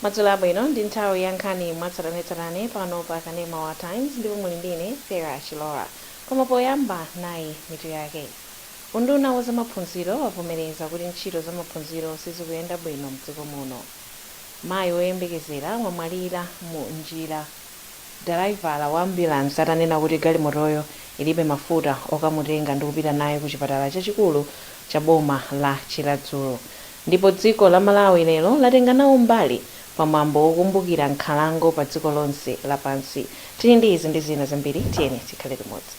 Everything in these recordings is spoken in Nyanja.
Madzulo abwino, ndi nthawi ya nkhani mwatsatanetsatane pano pa Kanema wa Times ndipo muli ndi ine Fera Chilora. Koma poyamba nayi mitu yake. Unduna wa zamaphunziro wavomereza kuti ntchito zamaphunziro sizikuyenda bwino mdziko muno. Mayi woyembekezera wamwalira mu njira dalaivala wa ambulansi atanena kuti galimotoyo ilibe mafuta okamutenga ndi kupita naye ku chipatala chachikulu cha boma la Chiradzulu. Ndipo dziko la Malawi lero latenga nawo mbali pa mwambo wokumbukira nkhalango pa dziko lonse lapansi. Tili ndi izi ndi zina zambiri, tiyeni tikhale limodzi.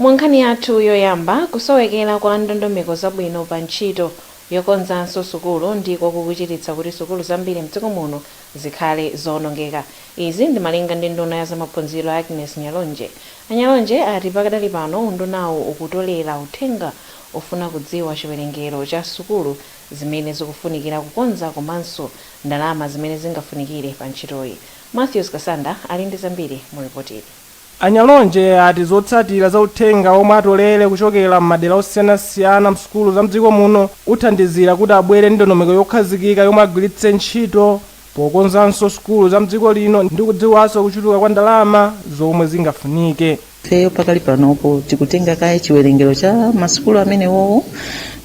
Mu nkhani yathu yoyamba, kusowekera kwa ndondomeko zabwino pa ntchito yokonzanso sukulu ndiko kukuchititsa kuti sukulu zambiri mdziko muno zikhale zoonongeka. Izi ndi malinga ndi nduna ya zamaphunziro a Agnes Nyalonje. A Nyalonje ati pakadali pano undunawu ukutolera uthenga ofuna kudziwa chiwerengero cha sukulu zimene zikufunikira kukonza komanso ndalama zimene zingafunikire pa ntchitoyi. Mathews Kasanda ali ndi zambiri mu ripotili. A Nyalonje ati zotsatira za uthenga omwe atolere kuchokera m'madera osiyanasiyana msukulu za mdziko muno uthandizira kuti abwere ndi ndondomeko yokhazikika yomwe agwiritse ntchito pokonzanso sukulu za mdziko lino ndi kudziwanso kuchuluka kwa ndalama zomwe zingafunike. Ifeyo pakali panopo tikutenga kaye chiwerengero cha masukulu amenewowo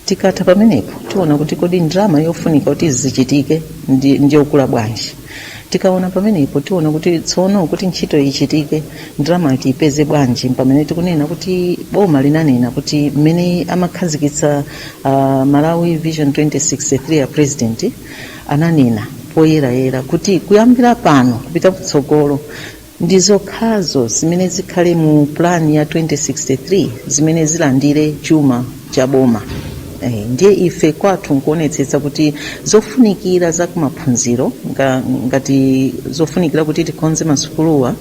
tikatha pamenepo tiona kuti kodi ndalama yofunika kuti zichitike ndi yokula bwanji. tikaona pamenepo tiona kuti tsono kuti ntchito ichitike ndalama tiipeze bwanji pamene tikunena kuti boma linanena kuti mmene amakhazikitsa uh, malawi vision 2063 a president ananena poyerayera kuti kuyambira pano kupita kutsogolo Ndi zokhazo zimene zikhale mu plan ya 2063 zimene zilandire chuma cha boma. Eeh, ndiye ife kwathu nkuonetsetsa kuti zofunikira za kumaphunziro nga, ngati zofunikira kuti tikonze masukuluwa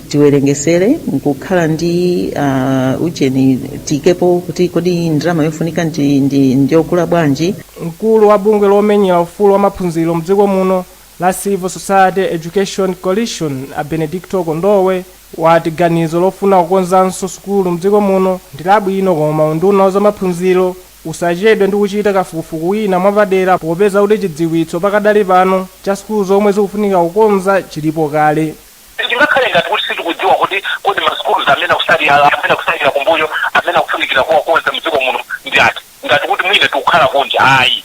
tiwerengesere nkukhala ndi uh, ujeni tiikepo kuti kodi ndalama yofunika ndi, ndi, ndi yokula bwanji. Mkulu wa bungwe lomenyera ufulu wa maphunziro mdziko muno la Civil Society Education Coalition a Benedicto Kondowe wati ganizo lofuna kukonzanso sukulu mdziko muno ndi labwino koma unduna wa zamaphunziro usachedwe ndi kuchita kafukufuku wina mwapadera popeza kuti chidziwitso pakadali pano cha sukulu zomwe zikufunika kukonza chilipo kale. Sitingakhale ngati kuti sitikudziwa kuti kodi ma schools amene akutsalira, amene akutsalira kumbuyo, amene akufunikira kuwakonza mdziko muno ndi ati, ngati kuti mwina tikukhala kunja, ayi.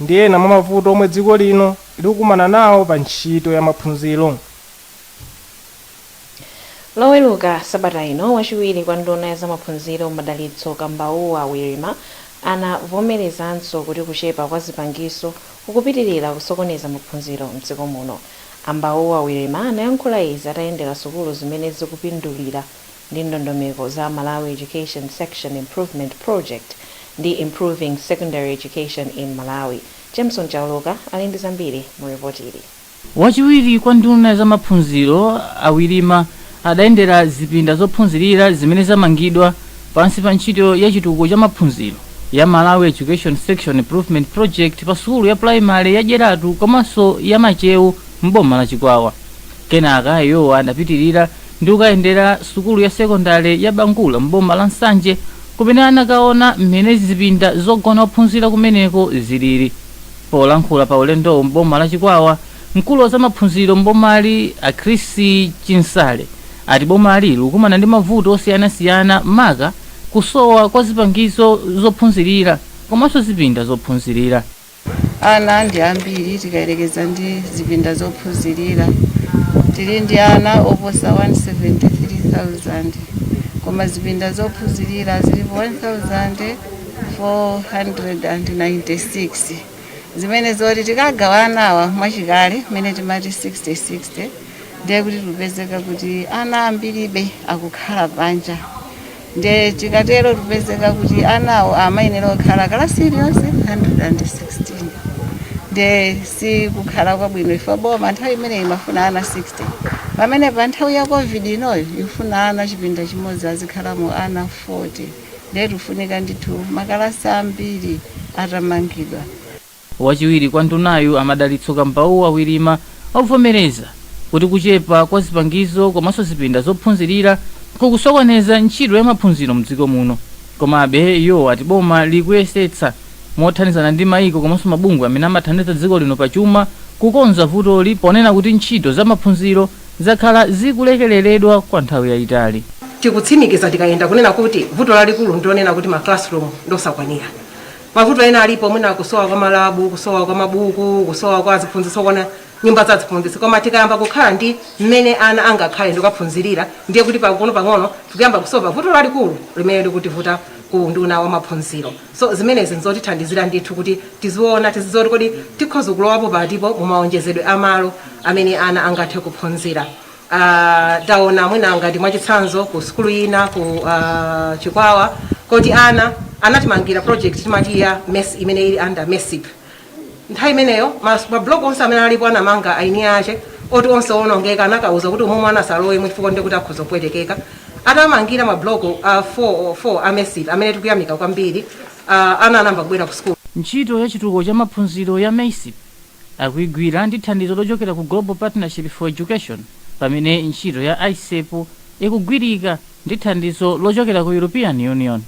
ndi ena mwa mavuto omwe dziko lino likukumana nawo pa ntchito ya maphunziro. Loweruka sabata ino, wachiwiri kwa nduna ya zamaphunziro Madalitso Kambauwa Wirima anavomerezanso kuti kuchepa kwa zipangizo kukupitilira kusokoneza maphunziro m'dziko muno. A Kambauwa Wirima anayankhula izi atayendera sukulu zimene zikupindulira ndi ndondomeko za Malawi Education Section Improvement Project ndi Improving Secondary Education in Malawi. Jameson Chauluka ali ndi zambiri mu report ili. Wachiwiri kwa nduna ya zamaphunziro a Wirima adayendera zipinda zophunzirira zimene zamangidwa pansi pa ntchito ya chitukuko cha maphunziro ya Malawi Education Section Improvement Project pa sukulu ya pulayimale ya Dyeratu komanso ya Machewu m'boma la Chikwawa. Kenaka iwowa adapitirira ndi kukayendera sukulu ya sekondale ya Bangula m'boma la Nsanje kumene anakaona mmene zipinda zogona ophunzira kumeneko zilili. Polankhula pa ulendowu m'boma la Chikwawa, mkulu wa zamaphunziro m'bomali a Chris Chinsale ati bomali likukumana ndi mavuto osiyanasiyana maka kusowa kwa zipangizo zophunzirira komanso zipinda zophunzirira. Ana ndi ambiri tikayerekeza ndi zipinda zophunzirira. Tili ndi ana oposa 173,000 koma zipinda zophunzirira zilipo 1,496. Zimene zoti tikagawa anawa mwachikale mmene timati 60-60 ndiye kuti tikupezeka kuti ana ambiribe akukhala panja. nde tikatero tupezeka kuti anawo amayenera kukhala kalasi iliyonse 116 nde si kukhala kwabwino ife boma nthawi imeneyi imafuna ana 60 pamene pa nthawi ya covid inoyo ikufuna ana chipinda chimodzi azikhalamo ana 40 nde tufunika ndithu makalasi ambiri atamangidwa Wachiwiri kwa ndunayu a Madalitso Kambauwa Wirima wavomereza kuti kuchepa kwa zipangizo komanso zipinda zophunzirira kukusokoneza ntchito ya maphunziro mdziko muno komabe iwo ati boma likuyesetsa mothandizana ndi maiko komanso mabungwe amene amathandiza dziko lino pa chuma kukonza vutoli ponena kuti ntchito za maphunziro zakhala zikulekeleredwa kwa nthawi yayitali. Tikutsimikiza tikayenda kunena kuti vuto lalikulu ndi lonena kuti ma classroom ndiosakwanira. Mavuto ena alipo mwina kusowa kwa malabu, kusowa kwa mabuku, kusowa kwa aziphunzitsi okwana, nyumba za aziphunzitsi. Koma tikayamba kukhala ndi mmene ana angakhale ndi kukaphunzirira ndiye kuti pang'onopang'ono tikuyamba kusova vuto lalikulu limene likutivuta ku unduna wa maphunziro. So zimenezi n'zotithandizira ndithu kuti tiziona, tizidziwa kuti kodi tikhoza kulowapo patipo mu maonjezedwe a malo amene ana angathe kuphunzira. Uh, taona mwina ngati mwachitsanzo ku sukulu ina ku uh, Chikwawa kuti ana anatimangira project timati ya mess imene ili under MESIP. Nthawi imeneyo mablock onse amene alipo anamanga eni ake oti onse onongeka anakawauza kuti umo mwana asalowemo chifukwa choti akhoza kupwetekeka. Atamangira mablock 4 uh, 4 a MESIP amene tikuyamika kwambiri uh, ana anayamba kubwera ku sukulu. Ntchito ya chitukuko cha maphunziro ya MESIP akuigwira ndi thandizo lochokera ku Global Partnership for Education, pamene ntchito ya ISEP ikugwirika ndi thandizo lochokera ku European Union.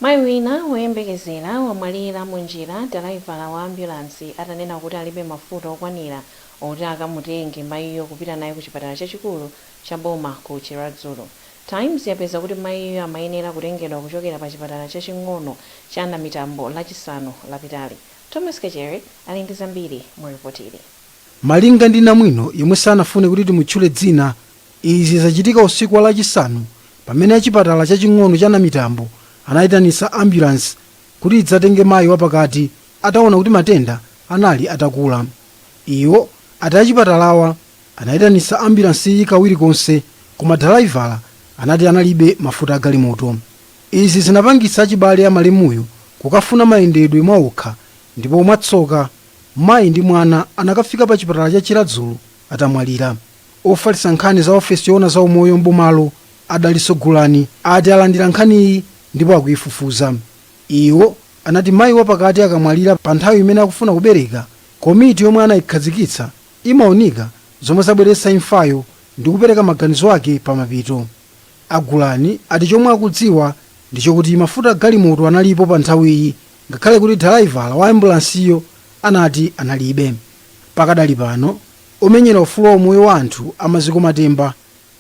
Mayi wina woyembekezera wamwalira munjira dalaivala wa ambulansi atanena kuti alibe mafuta okwanira oti akamutenge mayiyo kupita naye ku chipatala chachikulu cha boma ku Chiradzulu. Times yapeza kuti mayiyo amayenera kutengedwa kuchokera pa chipatala chaching'ono cha Namitambo Lachisanu lapitali. Thomas Kachere ali ndi zambiri mu ripotili. Malinga ndi namwino yemwe sanafune kuti timutchule dzina, izi zachitika usiku wa lachisanu pamene achipatala chaching'ono cha Namitambo anayitanitsa ambulance kuti idzatenge mayi wapakati atawona kuti matenda anali atakula. Iwo ati achipatalawa anayitanitsa ambulanceyi kawiri konse koma dalaivala anati analibe mafuta agalimoto. Izi zinapangitsa achibale a malemuyo kukafuna mayendedwe mwaokha ndipo mwatsoka, mayi ndi mwana anakafika pa chipatala cha Chiradzulu atamwalira. Ofalitsa nkhani za ofesi yoona za umoyo m'bomalo a Dalitso Gulani ati alandira nkhaniyi ndipo akuifufuza. Iwo anati mayi wapakati akamwalira pa nthawi imene akufuna kubereka, komiti yomwe anaikhazikitsa imaunika zomwe zabweretsa imfayo ndi kupereka maganizo ake pa mapeto. A Gulani ati chomwe akudziwa ndi chokuti mafuta a galimoto analipo pa nthawiyi ngakhale kuti dalaivala wa ambulansiyo anati analibe. Pakadali pano, omenyera ufulu wa umoyo wa anthu a Maziko Matemba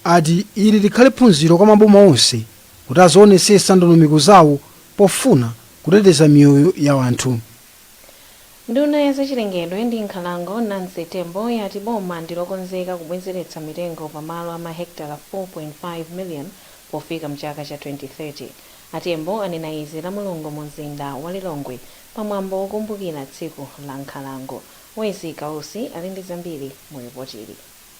ati ili likhale phunziro kwa maboma onse kuti azionetsetsa ndondomeko zawo pofuna kuteteza miyoyo ya anthu. Nduna ya zachilengedwe ndi nkhalango Nancy Tembo yati boma ndi lokonzeka kubwezeretsa mitengo pa malo a mahekitala 4.5 million pofika mchaka cha 2030. A Tembo anena izi lamulungu mu mzinda wa Lilongwe pa mwambo wokumbukira tsiku la nkhalango. Wezzie Kausi ali ndi zambiri mu ripotili.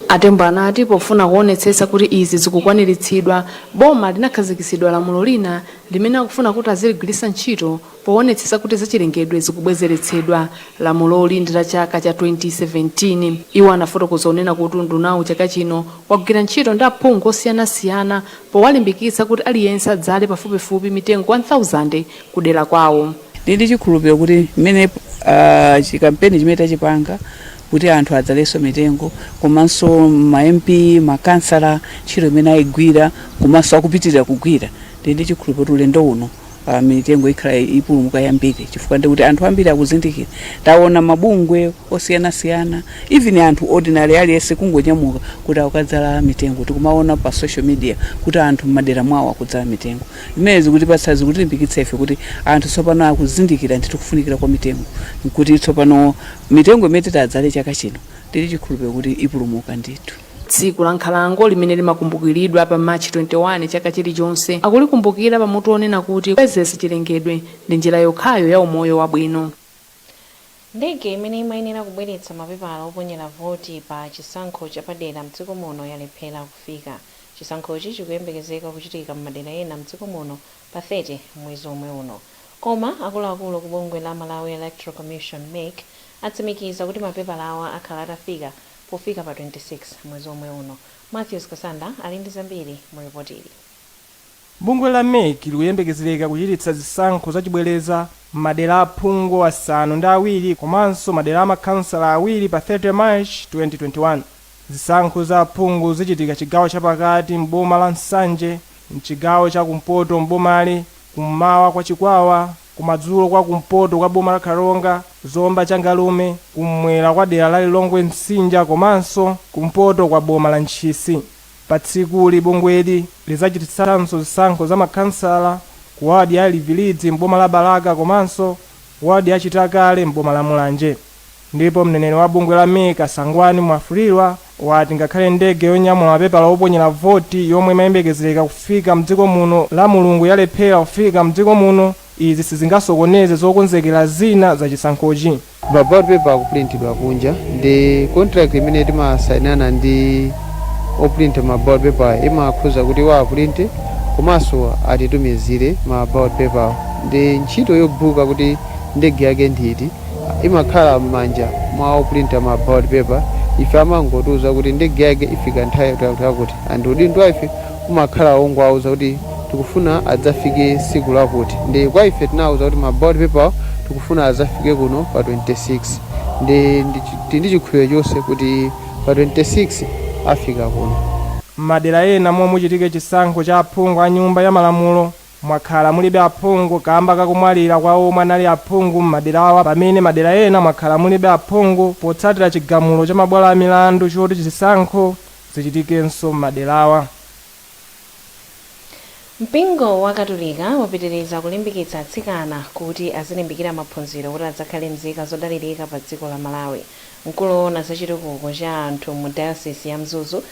A Tembo anati pofuna kuonetsetsa kuti izi zikukwaniritsidwa, boma linakhazikitsidwa lamulo lina limene akufuna kuti aziligwiritsa ntchito poonetsetsa kuti zachilengedwe zikubwezeretsedwa. Lamuloli ndi la chaka cha 2017. Iwo anafotokoza kunena kuti undunawu chaka chino wagwira ntchito ndi aphungu osiyanasiyana powalimbikitsa kuti aliyense adzale pafupifupi mitengo 1,000 ku dera kwawo. Ndili ndi chikhulupiriro kuti mmene a chikampeni chimene tachipanga kuti anthu adzalenso mitengo komanso ma MP makhansala ntchito imene ayigwira komanso akupitilira kugwira tili ndi chikhulupiliro kuti ulendo uno mitengo ikhala ipulumuka yambiri chifukwa ndiye kuti anthu ambiri akuzindikira tawona mabungwe osiyana siyana even anthu ordinary aliyense kungonyamuka kuti akukadzala mitengo tikumawona pa social media kuti anthu mmadera mwawo akudzala mitengo zimenezi zikutipatsa zikutilimbikitsa ife kuti anthu tsopano akuzindikira ndithu kufunikira kwa mitengo nkuti tsopano Mitengo imene titi adzale chaka chino ndili chikhulupiliro kuti ipulumuka ndithu. Tsiku la Nkhalango limene limakumbukiridwa pa March 21 chaka chilichonse, akulikumbukira pa mutu wonena kuti Kubwezeretsa Chilengedwe ndi Njira Yokhayo ya Umoyo Wabwino. Ndege imene imayenera kubweretsa mapepala oponyera voti pa chisankho chapadera mdziko muno yalephera kufika. Chisankhochi chikuyembekezeka kuchitika m'madera ena mdziko muno pa 30 mwezi omwe uno. Koma akuluakulu ku bungwe la Malawi Electoral Commission, mec, atsimikiza kuti mapepalawa akhala atafika pofika pa 26 mwezi omwe uno. Mathews Kasanda ali ndi zambiri mu report ili. Bungwe la mec likuyembekezereka kuchititsa zisankho zachibwereza m'madera a phungu asanu ndi awiri komanso madera a makhansala awiri pa 30 March 2021. Zisankho za aphungu zichitika chigawo chapakati m'boma la Nsanje M'chigawo cha kumpoto m'bomali, kum'mawa kwa Chikwawa, kumadzulo kwa kumpoto kwa boma la Karonga, Zomba Changalume, kumwera kwa dera la Lilongwe Msinja komanso kumpoto kwa boma la Ntchisi. Patsikuli, bungweli lidzachititsanso zisankho za makhansala ku wadi ya Livilidzi m'boma la Balaka komanso wadi ya Chitakale m'boma la Mulanje. Ndipo mneneri wa bungwe la mec a Sangwani Mwafulirwa wati ngakhale ndege yonyamula mapepala oponyera voti yomwe imayembekezereka kufika mdziko muno lamulungu yalephera kufika mdziko muno, izi sizingasokoneze zokonzekera zina za chisankhochi. Ma ballot paper akupulintidwa kunja ndi contract imene timasainana ndi opulinta ma ballot paper imakhuza kuti iwo apulinte komanso atitumizire ma ballot paper-wo. Ndi ntchito yobuka kuti ndege yake ndi iti. imakhala mmanja mwa oprinta ma ballot paper ife amangotiuza kuti ndege yake ifika nthawi yakuti yakuti yakuti and udindo wa ife umakhala wongowauza kuti tikufuna adzafike siku lakuti ndi kwa ife tinawauza kuti ma ballot paper awo tikufuna azafike kuno pa 26 ndi ndi chi- tili ndi chikhulupiriro chonse kuti pa 26 afika kuno M'madera ena momwe muchitike chisankho cha aphungu a Nyumba ya Malamulo, mwakhala mulibe aphungu kamba kakumwalira kwa omwe anali aphungu m'maderawa pamene madera ena mwakhala mulibe aphungu potsatira chigamulo cha mabwalo a milandu choti chisankho zichitikenso m'maderawa. Mpingo wa Katolika wapitiriza kulimbikitsa atsikana kuti azilimbikira maphunziro kuti adzakhale mzika zodalirika pa dziko la Malawi. Mkulu owona za chitukuko cha anthu mu dayosizi ya Mzuzu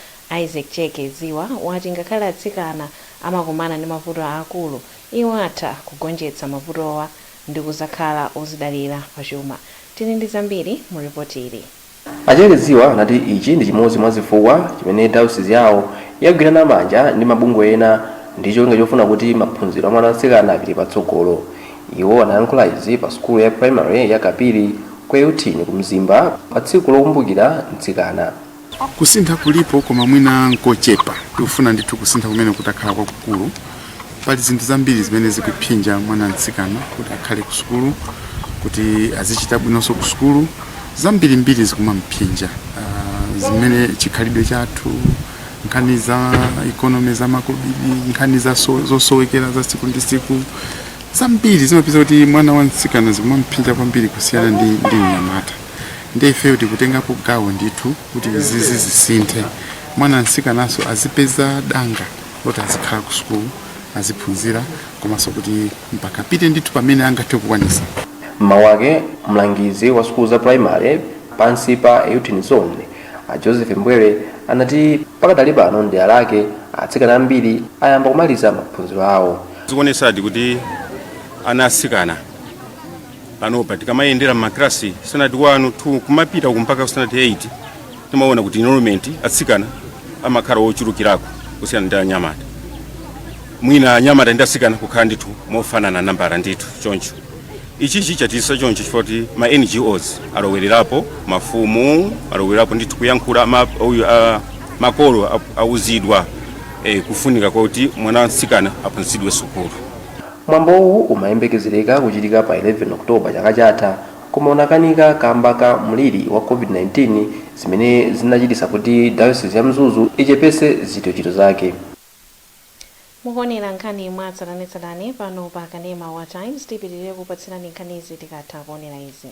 Isaac Cheke Ziba wati ngakhale atsikana amakumana ndi mavuto aakulu, iwo atha kugonjetsa mavutowa ndi kuzakhala ozidalira pa chuma. Tili ndi zambiri mu report ili. A Cheke Ziba anati ichi ndi chimodzi mwa zifukwa chimene dayosizi yawo yagwirana manja ndi mabungwe ena ndi cholinga chofuna kuti maphunziro a mwana wa mtsikana apite patsogolo. Iwo anayankhula izi pa sukulu ya primary ya Kapiri ku Euthini ku Mzimba pa tsiku lokumbukira mtsikana. Kusintha kulipo koma mwina n'kochepa. Tikufuna ndithu kusintha kumeneku kutakhala kwakukulu. Pali zinthu zambiri zimene zikuphinja mwana mtsikana kuti akhale kusukulu, kuti azichita bwinonso kusukulu. Zambirimbiri zikumam'phinja, zimene chikhalidwe chathu, nkhani za ikonomi, za makobidi, nkhani za zosowekera za tsiku ndi tsiku. Zambiri zimapeza kuti mwana wa mtsikana zikumam'phinja kwambiri kusiyana ndi mnyamata. ndiye ifeyo tikutengapo gawo ndithu kuti izizi zisinthe mwana msikananso azipeza danga loti azikhala ku sukulu aziphunzira komanso kuti mpaka apite ndithu pamene angathe kukwanisa mmawu ake mlangizi wa sukulu za primary pansi pa euthini zone a joseph mbwere anati pakadali pano mdera lake atsikana ambiri ayamba kumaliza maphunziro awo zikuonesadi kuti ana asikana panopa tikamayendera m'maklasi standard 1 2 kumapita uku mpaka standard 8 timaona kuti enrollment atsikana amakhala ochulukirako kusiyana ndi anyamata mwina anyamata ndi atsikana kukhala ndithu mofanana nambala ndithu choncho ichichi chachitisa choncho chifukwa kuti ma ngos alowererapo mafumu alowererapo ndithu kuyankhula ma- uyu, ah, makolo a- auzidwa eh, kufunika kwakuti mwana wa mtsikana aphunzitsidwe sukulu Mwambowu umayembekezereka kuchitika pa 11 October chaka chatha koma unakanika kamba ka mliri wa Covid-19 zimene zinachititsa kuti Diocese ya Mzuzu ichepese zitochito zake. Mukuonera nkhani mwatsatanetsatane pano pa kanema wa Times. Tipitilire kukupatsirani nkhanizi tikatha kuonera izi.